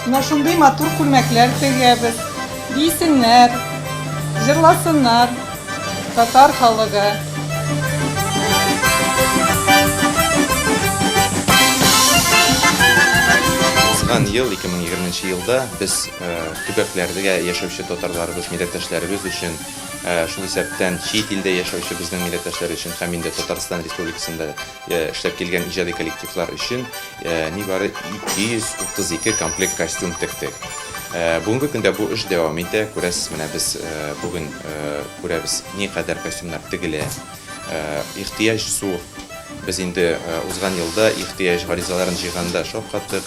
Менә шундый матур күлмәкләр тегәбез. Бийсеннәр, җырласыннар татар халыгы. Узган ел, 2020 нче елда без Төбәкләрдә яшәүче татарларыбыз, милләттәшләребез өчен, шул исәптән чит илдә яшәүче безнең милләттәшләр өчен һәм инде Татарстан Республикасында эшләп килгән иҗади коллективлар өчен нибары 232 комплект костюм тектек. Бүгенге көндә бу эш дәвам итә. Күрәсез, менә без бүген күрәбез, никадәр костюмнар тегелә. Ихтыяҗ зур. Без инде узган елда ихтыяҗ гаризаларын җыйганда шаккаттык.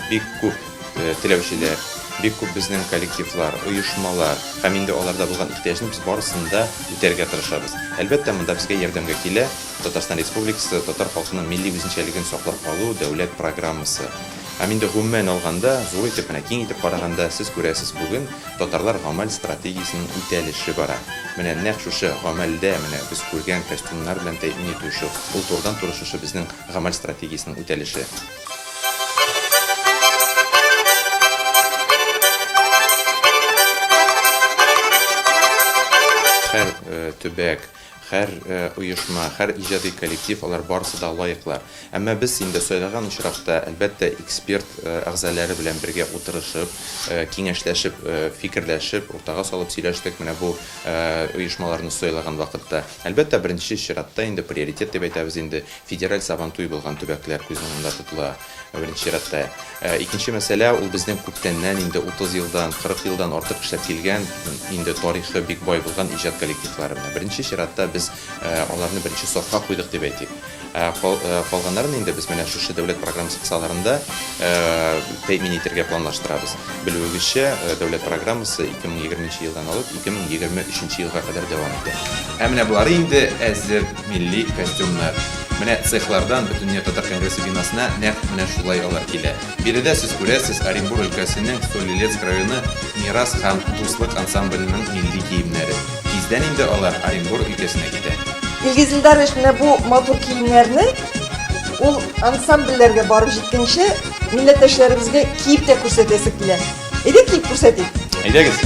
Бик күп. э, теләүчеләр, бик күп безнең коллективлар, оешмалар һәм инде аларда булган ихтыяҗны без барысын да үтәргә тырышабыз. Әлбәттә, монда безгә ярдәмгә килә Татарстан Республикасы татар халкының милли үзенчәлеген саклап калу дәүләт программасы. Һәм инде гомумән алганда, зур итеп менә киң итеп караганда, сез күрәсез, бүген татарлар гамәл стратегиясенең үтәлеше бара. Менә нәкъ шушы гамәлдә менә без күргән костюмнар белән тәэмин итү шул, ул турыдан-туры шушы безнең гамәл стратегиясенең үтәлеше. Хәр төбәк, хәр оешма, хәр иҗади коллектив, алар барысы да лаеклар. Әмма без инде сайлаган очракта, әлбәттә, эксперт әгъзалары белән бергә утырышып, киңәшләшеп, фикерләшеп, уртага салып сөйләштек менә бу оешмаларны сайлаган вакытта. Әлбәттә, беренче чиратта инде приоритет дип әйтәбез инде, Федераль Сабантуй булган төбәкләр күз уңында тотыла, беренче чиратта. Икенче мәсьәлә, ул безнең күптәннән, инде 30 елдан, 40 елдан артык эшләп килгән, инде тарихы бик бай булган иҗат коллективлары. Менә беренче чиратта без аларны беренче сафка куйдык дип әйтик. Калганнарын инде без менә шушы дәүләт программасы кысаларында тәэмин итәргә планлаштырабыз. Белүегезчә, дәүләт программасы 2020 нче елдан алып 2023 нче елга кадәр дәвам итә. Ә менә болары инде әзер. Милли костюмнар. Менә цехлардан Бөтендөнья татар конгрессы бинасына нәкъ менә шулай алар килә. Биредә сез күрәсез Оренбур өлкәсенең Солилецк районы Мирас һәм Дуслык ансамбленең милли киемнәрен. Тиздән инде алар Оренбур өлкәсенә китә. Илгиз Илдарович менә бу матур киемнәрне ул ансамбльләргә барып җиткәнче милләттәшләребезгә киеп тә күрсәтәсе килә. Әйдә клип күрсәтик. Әйдәгез.